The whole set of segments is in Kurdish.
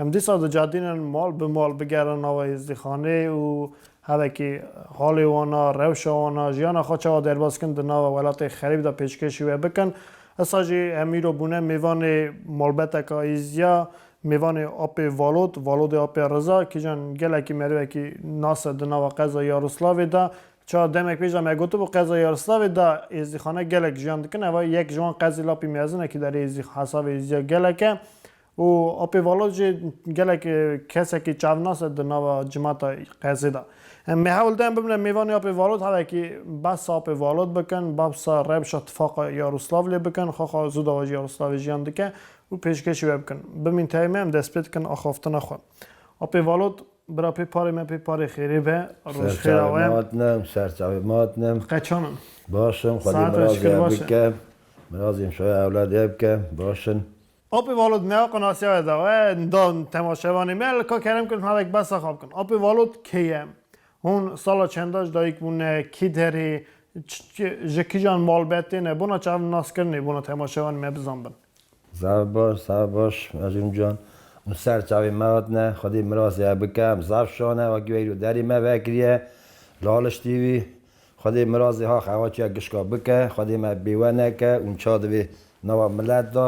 Em dîsa di cadîn in mal bi mal bigerin nava hêzdîxanê û hevekî halê wan a, rewşa wan a, jiyana xwe çawa derbas dikin di nava welatê xerîb de pêşkêşî wê bikin. Esa jî em îro bûne mêvanê malbeteka Îzya, mêvanê Apê Valod, Valodê Apê Riza, kîjan gelekî merivekî nas e di nava qeza Yaroslavê de. Çawa demek pêş de me gotibû qeza Yaroslavê de hêzdîxane gelek jiyan dikin, eva yek ji wan qezê Lapî Mezinekî derê hêzdî hesavê Îzya gelek e. Û apê vala jî gelek kesekî çavnas e di nava cimata qezê de. Me hewl daye bibne mêvanê apê valot hevekî behsa apê valot bikin, behsa rewşa tifaqa Yaroslavlê bikin, xaxa zû dawa ji Yaroslavê jiyan dike û pêşkêşî wê bikin. Bimîn tayê me em dest pê dikin axaftina xwe. Apê valot bira pê parê me pê parê xêrê be. Roj xêr awe. Serçavê mat ne em serçavê mat ne. Qeçan in. Baş in xwedî mirazê hev bike. Mirazê em şoya ewladê hev bike. Baş in. Apê Valot neya qinasiya ye dawe nda temaşevanê me li ka kerem kir navek behsa xwe bikin. Apê Valot kê ye? Hûn sala çenda ji dayik bûne? Kî derê? Ji kijan malbet têne? Bona çav naskirinê bona temaşevanê me bizan bin. Zaf baş, zaf baş Mecnûn can. Hûn ser çavê me hatine, xwedî mirasê hev bikim. Zaf şan e, wekî weyî li derê me vekiriye, laliştî wî. Xwedê mirazê ha xewaçiya gişka bike, Xwedê me bêwe neke û nça divê nava milet de,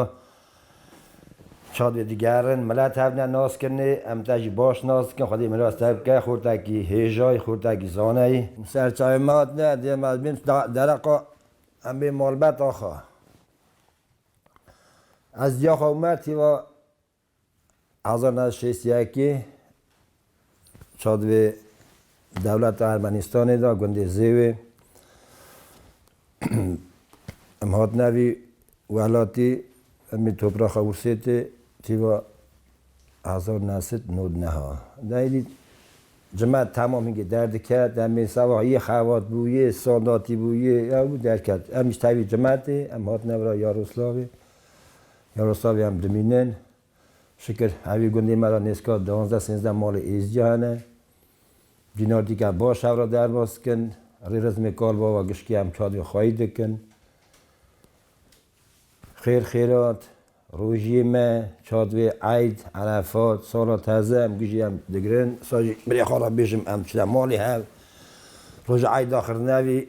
nça divê digerin. Milet hev ne nas kirinê, em te jî baş nas dikin, Xwedê miras te bike, xurtekî hêjayî, xurtekî zaneyî. Serçavê me hatine, dê me bin dereqa em bê malbet axa. Ez diyaxa û me tîva Hezar neh sed şêst yekê çadivê dewleta Ermenîstanê de gundê Zêwê em hatine vî welatî em ê topraxa Wursêtê çîva hezar neh sed nod neha de êdî cime temam hingê derdiket em ê sewa yê xebat bûyê sal datî bûyê ew derket em ji tevî cime tê em hatine vira Yaroslavê Nerosaviyan dimînin. Şikir hevî gundê me re nêzka duwazdeh sêzdeh malê êzicî hene. Cînardîka baş hev re derbas dikin. Rê rizmê kalbava gişkî em çadên xweyî dikin. Xêr xêrat, rojiyê me, çadvê eyd, erefat, sala teze em gijî em digirin. Îsal jî birê xwe re bêjim em çine malê hev. Roja eyd axir nevî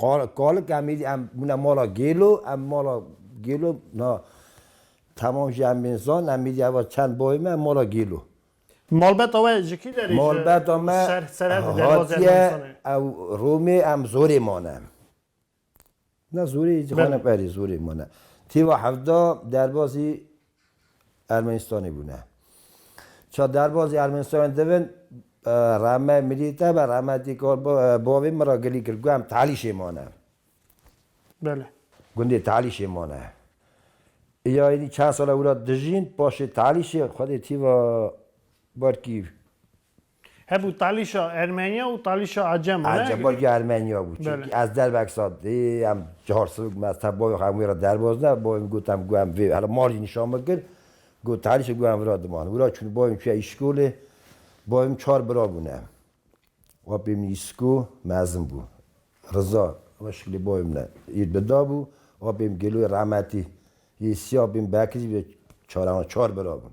Kalik em êdî em bûne mala Gêlo, em mala Gêlo na temam jî em bên zan, em êdî eva çend bayê me mala Gêlo. Malbata we ji kî derê ji ser serhedê derbazê Ermenistanê? Ew Romê em zorê mane. Na zorê jixwe ne berê zorê mane. Têva hevda derbazî Ermenistanê bûne. Ça derbazê Ermenistanê divin rehmet Mirî te be rehmetî kal bavê min ra gilî kir ku em Tehlîşê mane. Bele. Gundê Tehlîşê mane. Ya êdî çend sal e wira dijîn paşê Tehlîşê xwedê tîva ber kî Hev û talîşa Ermenya û talîşa Acem û ne? Acem û Ermenya bû. Çimkî ez dervek sat dî em cihar sivik me ez te bavê xwe em wê re derbozne. Bavê min got em gu em vê hela mal jî nîşan min kir. Got talîşê gu em vira diman. Wira çûn bavê min çûye îşkolê. Bavê min çar bira bûne. Apê min îsko mezin bû. Riza wina şiklê bavê min e. Îr bi da bû. Apê min Gêloyê rahmetî yê sî apê min Bekir jî bi da çar heman çar bira bûn.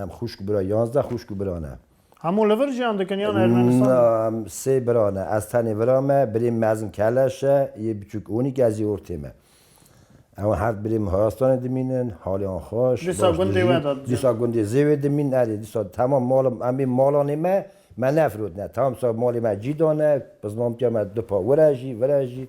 Em xwişk bira yazdeh xwişk û bira ne. Hemû li vir jiyan dikin yan Ermenistan? Na, em sê bira ne. Ez tenê vira me, birê mezin Keleş e, yê biçûk Onik, ez yê ortê me. Ew her di birê min Horastanê dimînin, halê wan xweş, Dîsa baş gundê we dijîn. de dijîn. Dîsa gundê Zêwê dimînin, erê dîsa temam mala em ê malanê me, me nefirotine. Temam dîsa malê me cî dane, bi zilamtiya me du pa wire jî, vire jî.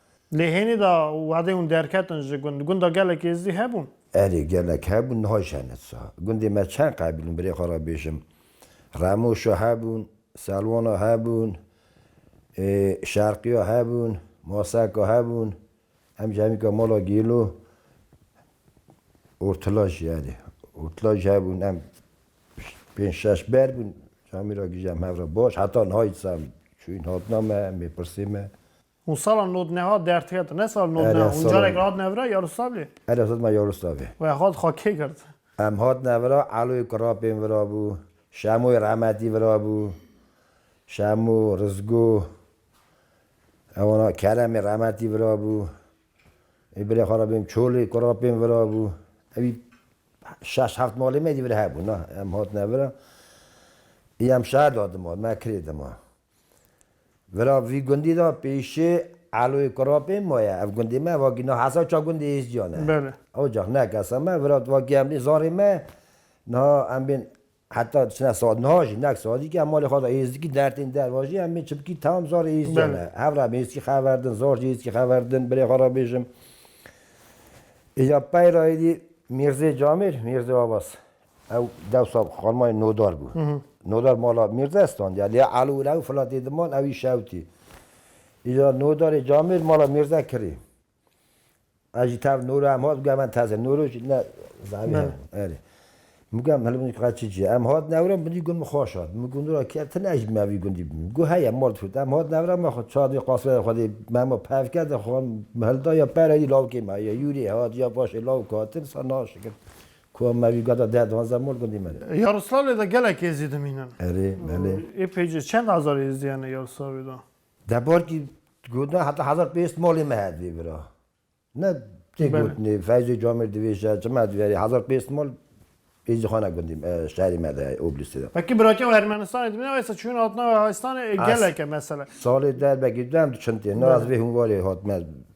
Lê hênî de wadên hûn derketin ji gund. Gunda gelek êzdî hebûn. Erê gelek hebûn niha jî hene siha. Gundê me çend qebil bûn birê xwe re bêjim. Remoşa hebûn, Selwana hebûn, Şerqiya hebûn, Maseka hebûn, em jî hemîka mala Gêlo, Ortila jî erê. Ortila jî hebûn em pênc şeş ber bûn. Camîra gije em hev re baş. Heta niha jî siha çûyîn hatina me em ê pirsê me. Hûn sala nodneha derd ketin. Ne sal nodneha. Hûn carek re hatine vira Yaroslavlê? Ere hatine vira Yaroslavê. We hat ha kê girt? Em hatine vira Eloyê ku rapên virabû, Şemoyê rehmetî virabû, Şemo, Rizgo, ewana Keremê rehmetî virabû, ê birê xwe re bêm Çolê ku rapên virabû. Ewî şeş heft malê me êdî vir hebûn. Em hatine vira. Ê em şer de dima, me kirê dima. Vira vî gundî de pêşê Eloyê Kurapê maye. Ev gundê me vakî niha hesa ça gundê Êzdiyan e. Belê. Ocax ne kesa me vira tu vakî em bîn zarê me niha em bîn heta çine saet niha jî nek saet dîkî em malê xwe de Êzdikî dertên der vajî em bîn çimkî tam zarê Êzdiyan e. Belê. Hev re em Êzdikî xever din zar jî Êzdikî xever din bilê xwe re bêjim. Îja pey re êdî Mîrzê Camîr, Mîrzê Abas Ew dewsa xanima yê Nodar bû. Nodar mala Mîrde standiya. Lê Elî û Lewî fila dê diman ew î şewtî. Îcar Nodarê Camêrd mala Mîrde kirî. Ez jî tev Noro em hat guya min teze. Noro jî ne zerrî heye. Erê. Min guya min hilbin qe çi cî. Em hat newre min dî gund min xweş hat. Min gund ra kî ti ne ji me vî gundî bimî. Got heye mal difût. Em hat newre me xwe çar dê qasirê xwe dê mema pevke de xwe hilda ya pere dî lawikê me ya yûrê hat ya paşê lawik hatin sa naşikin. Ku em mevî gada deh duanzdeh mol gundî me re. Yaroslavlê de gelek êzî dimînin. Erê, belê. Ê pêcê çend hezar êzî hene Yaroslavlê de? Debarkî gotin heta hezar pênc sed malê me hevdî bira. Ne tê gotinê Feyzê Camêr dibêje çima divê herî hezar pênc sed mal êzîxane gundî şerî me de heye Oblistê de. Belkî birakev Ermenistanê dimîne waysa çûyine hatine Erhayistanê ê gelek e mesele. Salê der belkî du em du çind tê. Nas vê hûnvarê hatine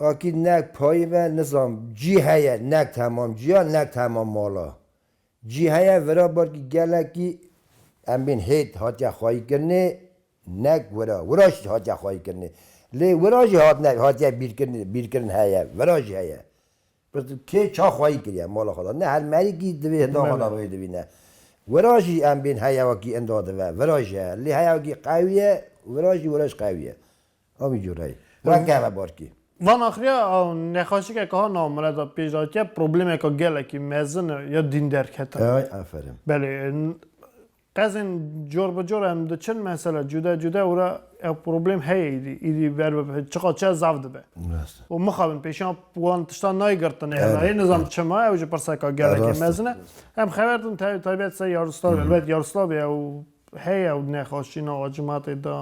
Akîd nekt payî ve nizam cî heye nekt hemam cîya nekt hemam mala cî heye vira barkî gelekî em bên hêt hatiye xwayî kirinê nekt wira wira jî hatiye xwayî kirinê lê wira jî hatine hatiye bîrkirinê bîrkirin heye vira jî heye pirsgirtin kê ça xwayî kiriye mala xwe da ne her merîkî divê hinda xwe da rê dibîne wira jî em bên heyewekî inda dive vira jî heye lê heyewekî qewî ye wira jî wira jî qewî ye. Avî cureyê. Ra keve barkê. Va naxiriya nexaşike ke ha nav mine de pêş hatiye problemeke gelekî mezin e ya dîn derketin. Ay aferin. Belê. Qezên cor bi cor em diçin mesela cude cude û re ew problem heye îdî. Îdî ber bibe çiqa çiya zaf dibe. Rast e. Û mixabin pêşiya wan tiştan nayê girtinê hela yê nizam çima ew ji pirseke gelekî mezin e. Em xeber din tevî taybet ser Yaroslavê elbet Yaroslavê ew Heye ew nexweşîna a cimatê de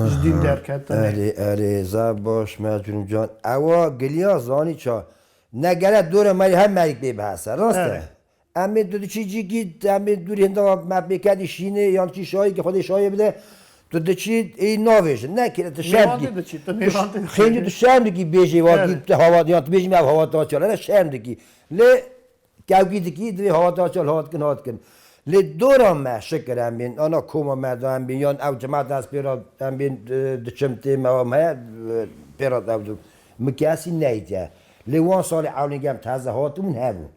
ji dîn derketinê. Erê erê zaf baş Mercûn can. Ewa giliya zanî ça. Ne gele dora me rê her merîk bê bihese. Rast e. Em ê tu diçî cîkî em ê dûrî hinda me pê kedî şînê yan çî şayê kî xwedê şayê bide tu diçî êyî navêjin. Ne kêle tu şerm dikî. Xêncî tu şerm dikî bêjê wadî tu hava yan tu bêjî me ev hava ta çi ya. Lere şerm dikî. Lê Kevkî dikî divê hata çal hat kin hat kin. Lê dora me şikir em bên ana koma me da em bên yan ew cemata ez pê ra em bên diçim tê me wan heye pê ra ew dû min kesî neydiye. Lê wan salê ewlên gem teze hatibûn hebûn.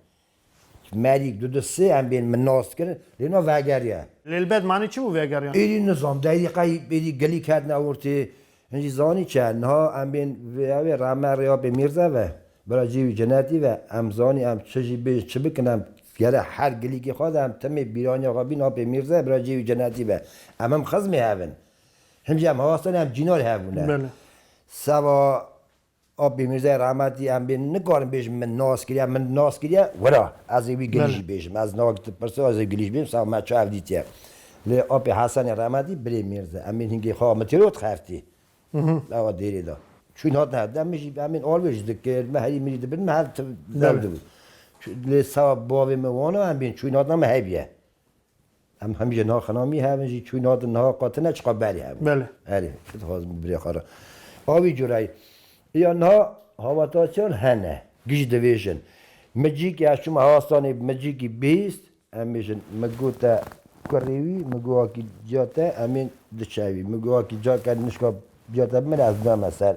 Merî du du sê em bên min nas kir lê na vegeriye. Lê li bed manî çi bû vegeriyan? Êdî nizam deyrî qey êdî gelîk hatine ortê Hin jî zanî çi ye? Niha em bên vê evê re, em erê apê mîrze ve, bira cî wî cinetî ve, em zanî em çi jî bên çi bikin em gere her gilîkê xwe de em timê bîraniya xwe bîn apê mîrze, bira cî wî cinetî ve. Em him xizmê hev in. Hin jî em hasten em cînor hev bûne. Seba Apê Mîrzayê rahmetî em bê nikarim bêjim min nas kiriye, min nas kiriye wira ez ê wî gilî jî bêjim. Ez nava te pirso ez ê gilî jî bêjim sax me çav dîtiye. Lê apê Hesenê rahmetî birê Mîrza em ê hingê xwe mitiro dixertî ava dêrê de. Çûn hatin hev de min jî em ên alvê jî dikir me herî mirî dibin me hev dew dibûn. Lê sawa bavê min wana em bê çûn hatina min hevî ye. Em hemî jê naxina mî hevin jî çû nadin niha qat ne çiqa berî hevin. Bele. Erê tu dixwazin bi birê xwe re. A wî cureyê. Îya niha hawata çar hene. Giş divêjin. Mi cîkê ez çûm hewastanê mi cîkî bihîst em bêjin mi got te kurê wî mi got akî ca te em ên diçewî mi got akî ca ke nişka ca te bimire ez dame ser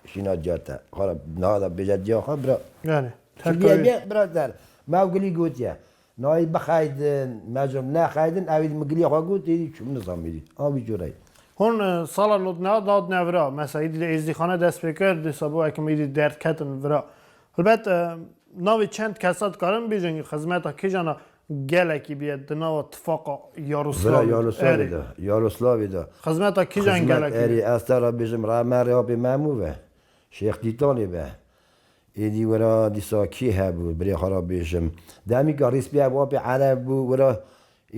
şîna ca te. Xwara niha de bêje ca xwe bira. Erê. Çi bîye bîye bira ser. Mi ew gilî gotiye. Nayê bixeydin, mecûm nexeydin, ewî di migilîya xwe got, êdî çûm nizamîrî. A wî cûre ye. Hûn sala nodna dad ne vira. Mesa êdî li êzdîxane dest pê kir, dîsa bo ekim êdî derd ketin vira. Helbet navê çend kesa dikarin bêjin xizmeta kîjan a gelekî bîye di nava tifaqa Yaroslavê de. Vira Yaroslavê de, Yaroslavê de. Xizmeta kîjan gelekî bîye? Erê ez te re bêjim re me rê apê Memû ve, Şêx Dîtanê ve. Êdî wira dîsa kê hebûn? Birê xwe re bêjim. Demî ka rîspîya wapê ereb bû wira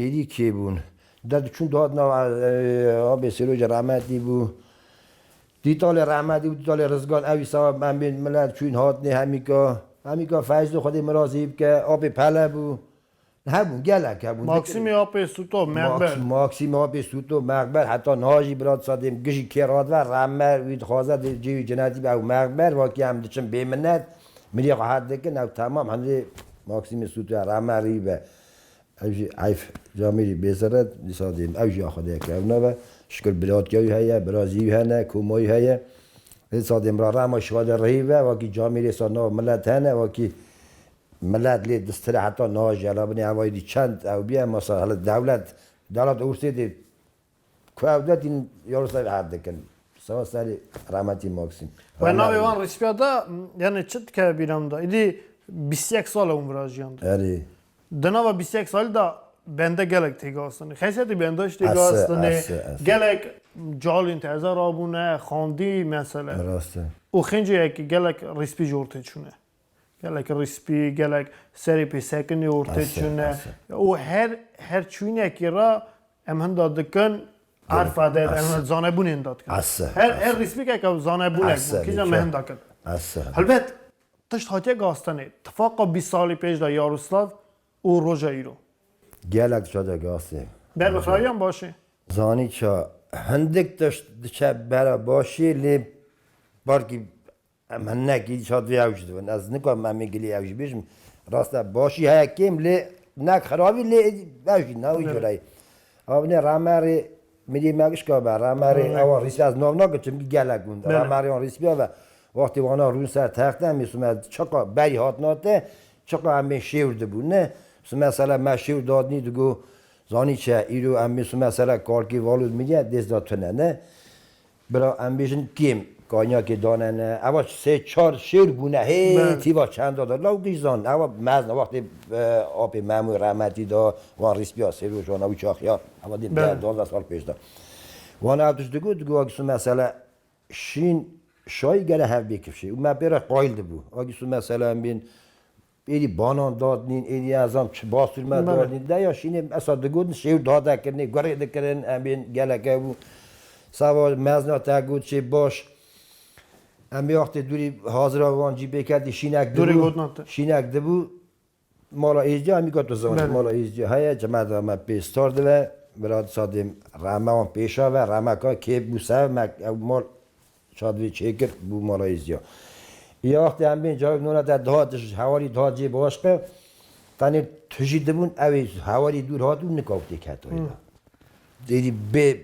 êdî kê bûn? Derdiçûn dihat nav apê Sêrocê Rehmetî bû. Dîtalê Rehmetî û dîtalê Rizgan ewî sawa em bên milet çûyîn hatinê hemîka. Hemîka Feyzû xwedê mirazî bike. Apê Pele bû. Hebûn gelek hebûn. Maksimî Apê Sûto, Meqber. Maksimî Apê Sûto, Meqber heta niha jî bila disa dê gijî kê radibe reme wî dixwaze dê cêwî cinetî be ew Meqber vakî em diçin bêminet milîyê xwe hed dikin ew temam hindê Maksimî Sûto ya reme rî be ew jî heyf camê jî bêseret disa dê ew jî ya xwe dê kewna be şikir bilatkîya wî heye birazî wî hene koma wî heye disa dê bila rema şîva de rihî be vakî camê rê disa nav milet hene vakî Milet lê distire heta niha jî hela binê hevayî dî çend ew bî ema ser hela dewlet delat ûrsê dê ku ew de tîn ya li ser erd dikin sewa serê remetî Maksîm. Wê navê wan rîspiya da yanê çi dikeve bîra min da îdî bîst û yek sal e hûn virajiyandiye. Erê. Di nava bîst û yek salî da bende gelek tê gastinê. Xeysiyetê bendaş tê gastinê. Gelek calîn te eza rabûne, xandî mesele. Rast e. Û xênceyekî gelek rîspî jor tê çûne. Gelek rîspî, gelek serê pê sekinê û rtê çûne û her her çûnekî ra em hinda dikin erfa de em zanebûnê hinda dikin. Her her rîspîkek ew zanebûnek bû kîjan me hinda kir. Helbet tişt hatiye gastenê. Tifaqa bîst salî pêş de Yaroslav û roja îro. Gelek ça de gastê. Ber bi xirayiyan baş ê. Zanî ça hindik tişt diçe bera baş ê lê parkî Em hinek îdiş vê ewc dibin. Ez nikarim em ê gilê ewc bêjim. Rast e başî heye kêm lê hinek xerabî lê ewc jî ne wî cure ye. Ava binê Remerê Mirî Mekişka be, Remerê ewan Rîspî ez nav nagirim çimkî gelek gund e. Remerê wan Rîspîya be wextê wana rûn ser texte em ê sime çiqa berî hatina te çiqa em ê şêwr dibûn ne sime sere me şêwr dadinî digo zanî çi ye îro em ê sime sere kalkê Valûd Mirî ye dêst da tune ne. Bira em bêjin kêm kanyakê dane ne eva sê çar şêr bûne hê tîva çenda de law giş zan eva mezne wextê apê Memû rehmetî de wan rîspîya sê rojan ewî çaxiya eva dê deh duwazdeh sal pêş de wan ev tişt digot digot Agîsu mesele şîn şayî gere hev bê kifşê û me pê re qayîl dibû Agîsu mesele em bên Êdî banan dadnîn, êdî ez zan çi bastûr me dadnîn. Deya şînê em esa digotin şêw dade kirinê, gurê dikirin, em ên geleke bû. Sava mezna te got şê baş. Em ê wextê dûrî hazira wan cî bê ketî şînek dibû. Şînek dibû mala Êzdiya em got tu zanî mala Êzdiya heye cemeda me pê star dibe. Bila disa dêm rehme wan pêşa ve, rehmeka kê bû ser me ew mal Çadrê çêkir bû Malayzya. Ya wextê em bên cayê nona de dihat ji hewarî dihat cê başqe. Tenê tu jî dibûn ewê hewarî dûr hat û nika wextê ke tayê de. Dêrî bê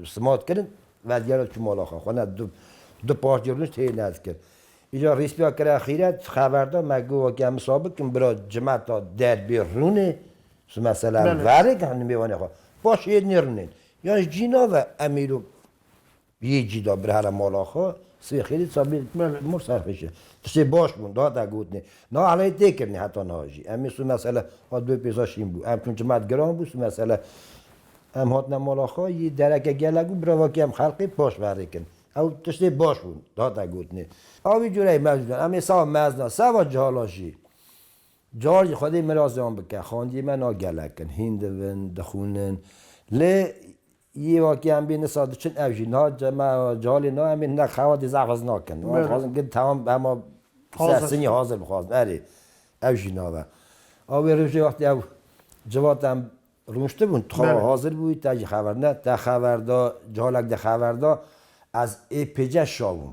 simat kirin vedigera çû mala xwe. Xwe ne du du parçe rûnişt hê nez kir. Îcar rîspiya kire xîret xever da me got weke em wisa bikin bira cimeta der bê rûnê tu mesela em verik nimêwanê xwe paşê hê nêrûnên. Yan ji cîna ve em îro Yê cîda bir here mala xwe, sibê xêrê sabîr dikme li mor serxişe. Tiştê baş bûn, dihate gotinê. Niha helayê tê kirinê heta niha jî. Em ê sibê mesele hat dû pêza şîn bû. Em çûn çimet giran bû sibê mesele em hatine mala xwe yê dereke gelek bû biravakê em xelqê paş verê kirin. Ew tiştê baş bûn, dihate gotinê. A wî cureyê mevcûdan em ê seba mezna, seba cihalan jî cihal jî xwedê mirazê wan bike. Xandiyê me na gelek in, hîn divin, dixwînin. Lê Yê wakiyan bê nisa diçin ev jî niha me cehalê nayên bê hinek xewa dê zehf ez nakin. Wan dixwazin gund tewam hema ser sinî hazir bixwazin erê ew jî nabe. A wê rojê wextê ew civata em rûniştibûn tu xewa hazir bûyî te jî xeber ne te xeber da cehalek de xeber da ez ê pêce şabûm.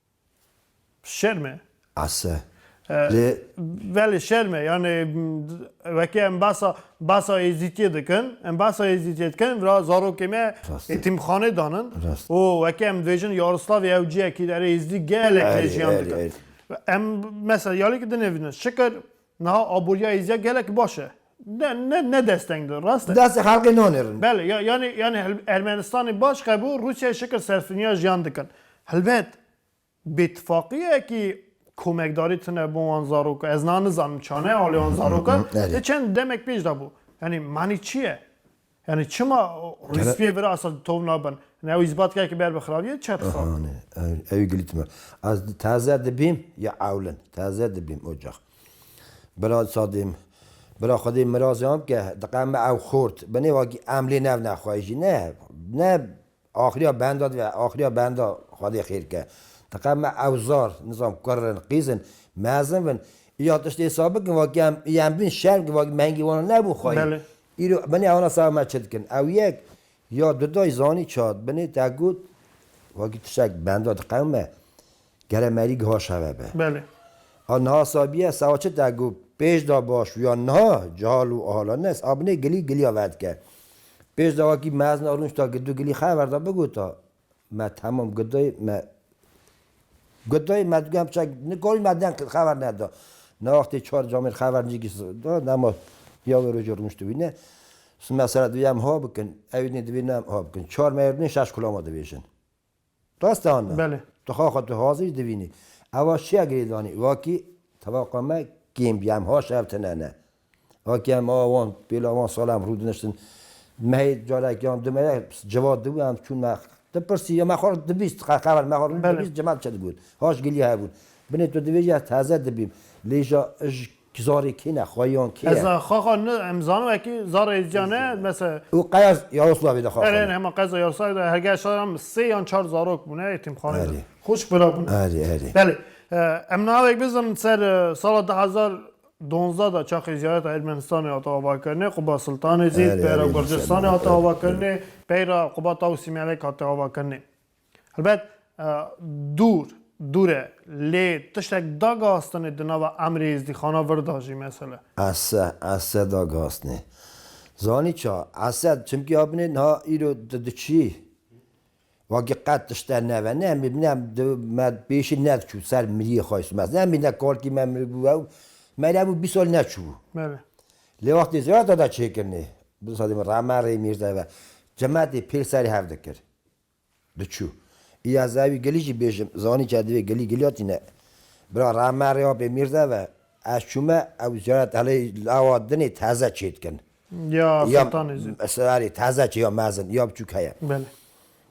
Şerm e. Ase. Lê. Belê şerm e. Yanê weke em basa basa Êzîtiyê dikin, em basa Êzîtiyê dikin, vira zarokê me etîmxanê danin û weke em dibêjin Yaroslavê ew ciyekî di erê Êzidî gelek lê jiyan dikin. Em mesela ya lê ki dinêvînin. Şikir Niha aboriya Êzîya gelek baş e. Ne ne ne desteng di, rast e. Destê xelkê nanêrin. Bele, ya yanî yanî hil Ermenistanê baş qebû Rûsyayê şikir serfirniya jiyan dikin. Helbet bêtifaqiyekî komekdarî tune bo wan zaroka. Ez na nizanim çane alê wan zaroka. Erê. Ti çend demek pêş de bû. Yanî manî çi ye? Yani çima rîspiyê bira asa tov nabin? Yani ew îzbatkayekî ber bi xirabiyê çet xwe. Hane, ew ê gilî timi. Ez taze dibîm ya ewlin. Taze dibîm ocax. Bira sa dêm bira xwe dê mirazê an bike. Diqe me ew xort. Binê wekî em lê nev nexwayî jî ne ne Axriya benda dibe axriya benda Xwedê xêr ke. Diqe me ewzar, nizam kurr in, qîz in, mezin bin. Îcar tiştê hesab bikin vakî em îyem bîn şerm kir vakî mehingî wan nebû xwayî. Îro binê ewna seba me çi dikin. Ew yek ya du dayî zanî çad binê te got vakî tiştek benda diqewime. Gere merî giha şeve be. Belê. A niha sabiye sewa çi te got pêş da baş bû ya niha cihal û ahala nes a binê gilî giliya vedike. Pêş da wekî mezna rûnişta gidu gilî xever da bigota me temam gidayê me gidayê me digu hemşa nikarî me deng kir xever neda. Na wextê çar camêr xever ncikî da dema ya wê rojê rûnişti wî ne sime sere divê em ha bikin ewî nê divê ne em ha bikin çar mêr nê şeş kulama divêjin. Rast e an na? Belê. Tu xwe xwe tu hazir dibînî. Ewa çiya girê danî? Wakî tevaqa me kêm bî. Em ha şer tune ne. Wakî em a wan pêla wan sala em rû diniştin. Mehê carek yan du mehê civat dibû em çûn me tu pirsî ya me xwe dibîst qeqever me xwe rû dibîst cimel çi digot? Haş gilî hebûn. Binê tu dibêjî ez teze dibîm. Lê ja ij Ki zarê kî ne, xweyan kî ye? Ez a xaxa ne, em zanim ekî zarê êzîca ne, mese. Û qez Yaroslavê de xaxa ne? Erê, hema qeza Yaroslavê de hergehê şaran min sê yan çar zarok bûne êtîmxaneyê de. Xwişk vera bûne. Erê, erê. Belê. Em navek bizirin ser sala du hezar donzdeh de çaxê ziyareta Ermenistanê hate avakirinê, Quba Siltanê zî peyra Gurcistanê hate avakirinê, peyra Quba Tawusî Melek hate avakirinê. Helbet dûr dûr e lê tiştek da gihastinê di nava emrê êzdîxana vir da jî mesele. Ese ese da gihastinê. Zanî ça? Ese çimkî a binê niha îro tu diçî wekî qet tişte neve ne mî ne di me pêşî nediçû ser miriyê xwe smes ne mî ne kalkî me miribû ew me re bû bîst sal neçûbû. Belê. Lê wextê ziyareta da çêkirinê bi sedê min re me rê mîrde ve cemetê pêl serê hev dikir. Diçû. Îya zey wî gilî jî bêjin, zanî ke divê gilî gilîya tîne. Bira re me rêya pê Mîrze ve. Ez çûme, ew ziyaret elê lawa dinê teze çê dikin. Ya Sultanê Zîn. Erê teze çê ya mezin, ya biçûk heye. Belê.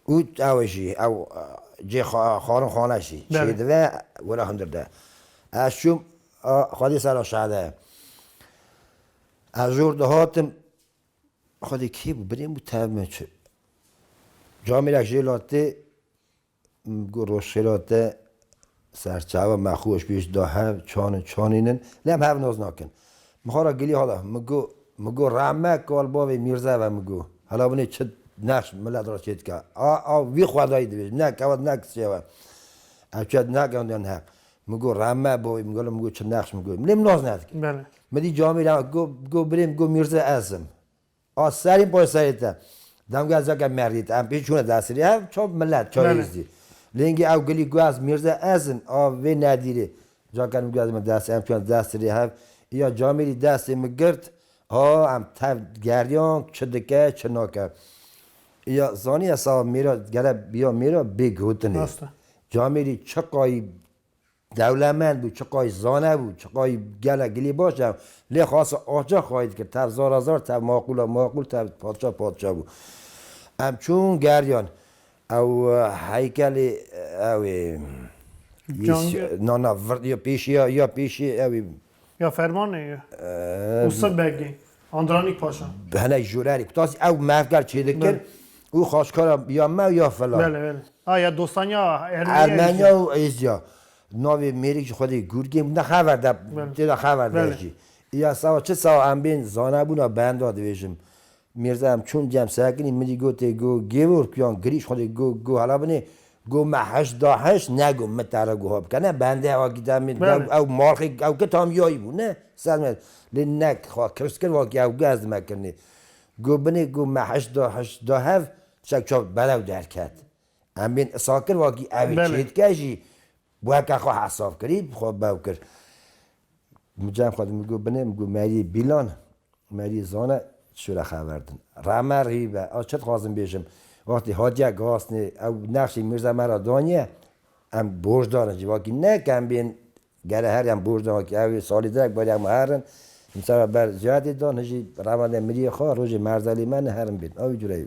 Û ew jî, ew cê xwarin xwaneş jî çê dive, were hundir de. Ez çûm, xwedî sera şehde. Ez jor dihatim. Xwedê kê bû binê bû tev me çi. Camê ra jê latê min got roj xêra te serçava me xû eşbîş da hev çanin çanînin lê em hev naz nakin. Min xwe ra gilî hala min got min got rehme kal bavê mîrze ve min got hela binê çi nexş milet ra çêdike a a wî xwedayî dibêjin ne kewt ne kisê we ev çet nake hundiyan heq Min got rem me bo, min got min got çi nexş, min got lê min nas nedikir. Belê. Min dît camê re hat, got got birê min got Mîrze ez im. A serî bo serê te. Demgeh zeke merî te, em pê çûne dersirê hev çav milet çayê Belê. zî. Lêngî ew gilî got ez Mîrze ez im, a vê nedîrê. Zeke min got ez me dersê em çûne dersirê hev. Îya camê rî destê min girt, ha em tev geriyan çi dike çi nake. Îya zanî esa mêra gere bîya mêra bêgotin ê. Rast e. Camêrî çiqayî dewlemend bû, çiqayî zane bû, çiqayî gelek gilî baş hebû lê xase axca xayî dikir, tev zara zar, tev maqûla maqûl, tev padşa padşa bû. Em çûn geriyan ew heykelê ewê na na ya pêşiya ya pêşiyê ewê Ya fermanê ye. Û sib begê. Andranîk paşa. Bi hinek jûrerî kutasî ew merdgar çêdikin û xaçkara ya me ya filan. Bele bele. A ya dostaniya Ermeniya Êzdiya. Ermeniya û Êzdiya. Navê mêrik jî xwedî Gurgên bû ne xever de têda xever de jî. Îya sewa çi sewa em bên zanebûna benda divêjim. Mîrza em çûn cem sekinî min jî gotê go Gêvork yan girîş xwedê go go hala binê go me heşt da heşt ne go min tare goha bike ne bende wakî te mîr go Belê. ew malxê ew ke tam yayî bû ne ser me lê ne xwe kirst kir wakî ew ge ez dime kirnê go binê go me heşt da heşt da hev çek çav berew derket em bên isakir wakî ew ê Belê. çêdike jî Weke xwe hesaf kirî bi xwe bew kir. Min cem xwe min got binê min got meriyê bîlan meriyê zane çi re xever din. Reme rî be ez çi dixwazim bêjim wextê hatiye gasnê ew nexşê mîrza me re daniye em borc darin civakî ne ke em bên gere herî em borc darin wekî ew salî direk barî em her in îmsara ber ziyadê dan hijî reme de miriyê xwe rojê merzelê me ne herin bên ew jûre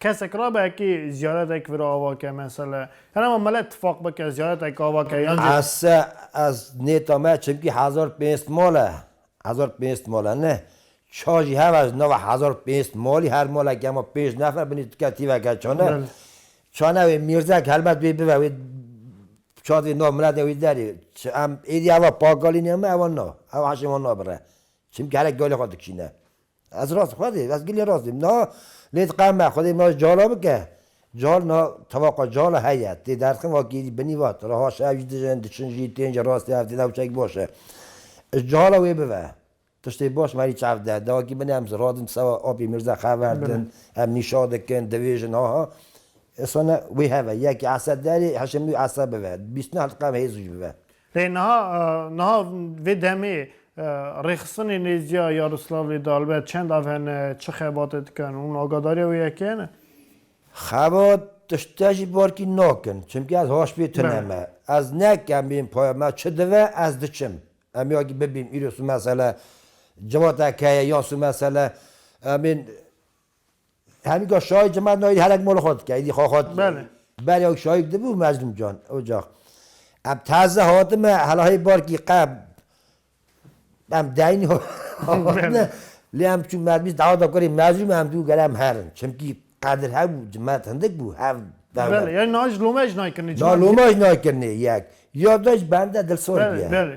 Kesek rabe kî ziyaretek vira ava ke mesele ya nema mele tifaq bike ziyaretek ava ke yan jî. Ez se ez nêta me çimkî hezar û pênc sed mal e. Hezar û pênc sed mal e ne. Çar jî hebe ji nava hezar û pênc sed malî her maleke hema pênc nefer binî dike tîveke çane. Belê. Çane wê mîrzek helbet wê bibe wê çad wê nav miletê wê derê. Çi em êdî eva pakalînê me eva na. Eva heşê wan nabire. Çimkî herek galê xwe dikişîne. Ez rast xwedê ez gilê rast dîm niha lê diqe me xwedê na ji cala bike cal na tevaqa cala heye tê derxin vakî binî vat reha şev jî dijin diçin jî tên ji rastê ev tê newçeyek baş e ji cala wê bive tiştê baş merî çav de de vakî binê em ziradin sewa apê mîrza xeverdin em nîşa dikin divêjin aha isana wê heve yekê esa derê heşê min wî esa bive bîst neh diqe em hêz jî bive. Rê niha niha vê demê rêxistinê nêzîya Yaroslavlê di Albert çend av hene, çi xebatê dikin? Hûn agadarîya wê yekê hene? Xebat tiştê jî barkî nakin. Çimkî ez haşbî tune me. Ez nekemîm paya me çi dive ez diçim. Em ya kî bibîm îro sû mesele civata ke ye ya sû mesele em ên Hemîka şahî çima di nayî herek mala xwe dike, êdî xwe xwe dike. Belê. Belê ew şahî di bû Mezlûm Can ocax. Em taze hatime hela hê barkî qe em deynî hatine lê em çû me bîst daweta kurê Mezlûm em dû gelem herin. Çimkî qedir hebû cimet hindik bû hev Belê ya na ji loma jî nayê kirinê. Na loma jî nayê kirinê yek. Ya da jî bende dilsor bûye. Belê belê.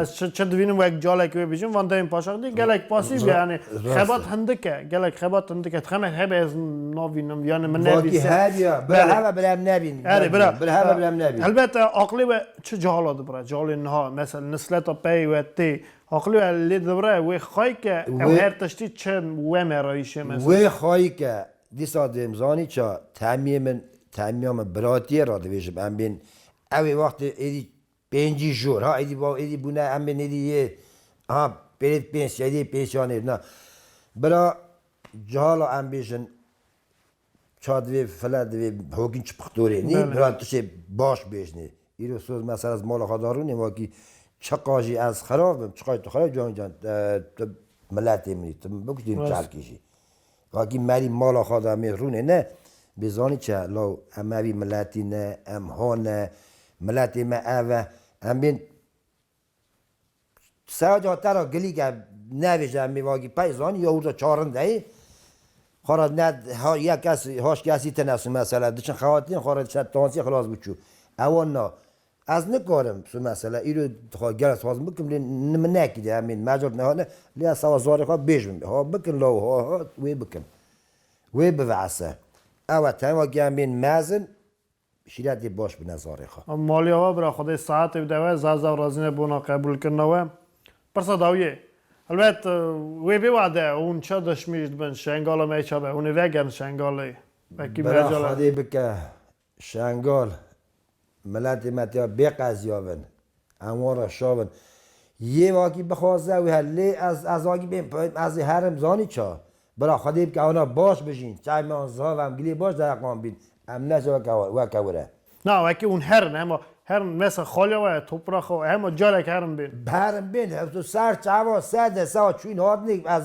Ez çi dibînim wek calekî wê bijîm van dayên paşax dî gelek pasîv ye yanî xebat hindik e gelek xebat hindik e dixemek hebe ez navînim yanî min nebî her ya heve bila em nebîn erê bira bila heve bila em nebîn helbete aqlê we çi cahala dibira calê niha mesel nisleta peyê we tê aqlê we lê dibira wê xayke ew her tiştî çi we merayîşê me wê xayke dîsa dêm zanî ça temiyê min temiya min biratiyê radivêjim em bên ewê wextê êdî Pêncî jor, ha êdî va êdî bûne em bên êdî yê ha pêrêd pênc êdî pênc yan êdî na. Bira cihala em bêjin ça divê file divê hokîn çi pixtorê nî bira tu şê baş bêjnê. Îro soz mesela ez mala xwe de rûnê ma kî çiqa jî ez xerab bim çiqa jî tu xerab bî canê can tu miletê min î tu min bikujtî min çerkî jî Vakî merî mala xwe da mê rûnê ne, bê zanî çi ye, law em mevî miletî ne, em ha ne, miletê me ev e, em bên Seya ca te ra gilîk e, nebêje em ê vakî pey zanî ya hûrda çarin de yê, xwe ra ne ha yek kes, haş kesî tine su mesela, diçin xewatinên xwe ra dişe tansî xilas bû çû. Ewa na, Ez nikarim tu mesela îro dixwa gel ez dixwazim bikim lê ni min nekiriye em ên mercan niha ne lê ez sawa zarê xwe bêj bim ha bikin law ha ha wê bikin wê biveese ew e tenga ke em ên mezin şîretê baş bine zarê xwe. Maliya we bira xwe dê saetê bide we zazdaw razîne bona qebûlkirina we pirsa dawiyê helbet wê bê wade hûn çi dişmîş dibin şengala me çabe hûnê vegerin şengalê wekî mercan. Bira xwe dê bike Şengal, Miletê me têya bê qeziyavin. Em wan re şavin. Yê vakî bixwaze wê her lê ez ez vakî bên peyim ez ê herim zanî ça. Bira Xwedê bike ewna baş bijîn. Çavên me wan zihav em gilê baş dereqan bîn. Em ne ca weke wir e. Na weke hûn herin hema herin mesa xaliya we topraxa we hema careke herin bên. Bi herin bên hewso ser çava sede sawa çûyîn hatinê ez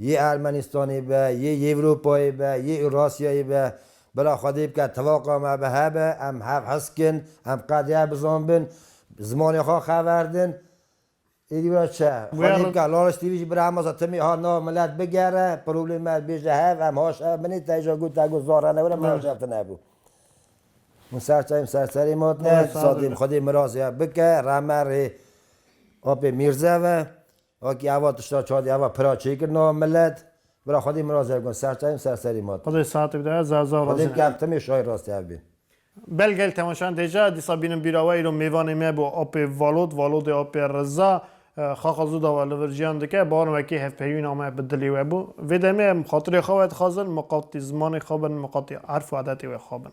Yê Ermenistanê be, yê Yewropayê be, yê Ewrasyayê be, bila Xwedê bike tilaqa me bi hebe, em hev hiskin, em qedê hev bizanbin, zimanê xwe xeverdin, êdî wira çi ye? Xwedê bike Lariş TV jî bira Hemasa Timî ha nav milet bigere, problêmê me bêje hev, em haş hev binê, te îja got te got zan re newire, me haş hev tune hebû. Hûn serçeyên ser serê me tine, sadê Xwedê mirazê hev bike, reme rê apê Mîrzev e. Wekî ava tişta çadî ava pira çêkir na milet. Bira xwedî min ra zer got ser çayê min ser serî ma tu. Xwedê saetik daya za za roz e. Xwedê bikar timê şayî rast hev bîn. Bel gel temeşan deja dîsa bînin bîra we îro mêvanê me bo apê Valod Valodê apê Riza xaxa zû dava li vir jiyan dike barin wekî hevpeyvîna me bi dilê we bû. Vê demê em xatirê xwe we dixwazin miqatî zimanê xwe bin miqatî erf û edetê we xwe bin.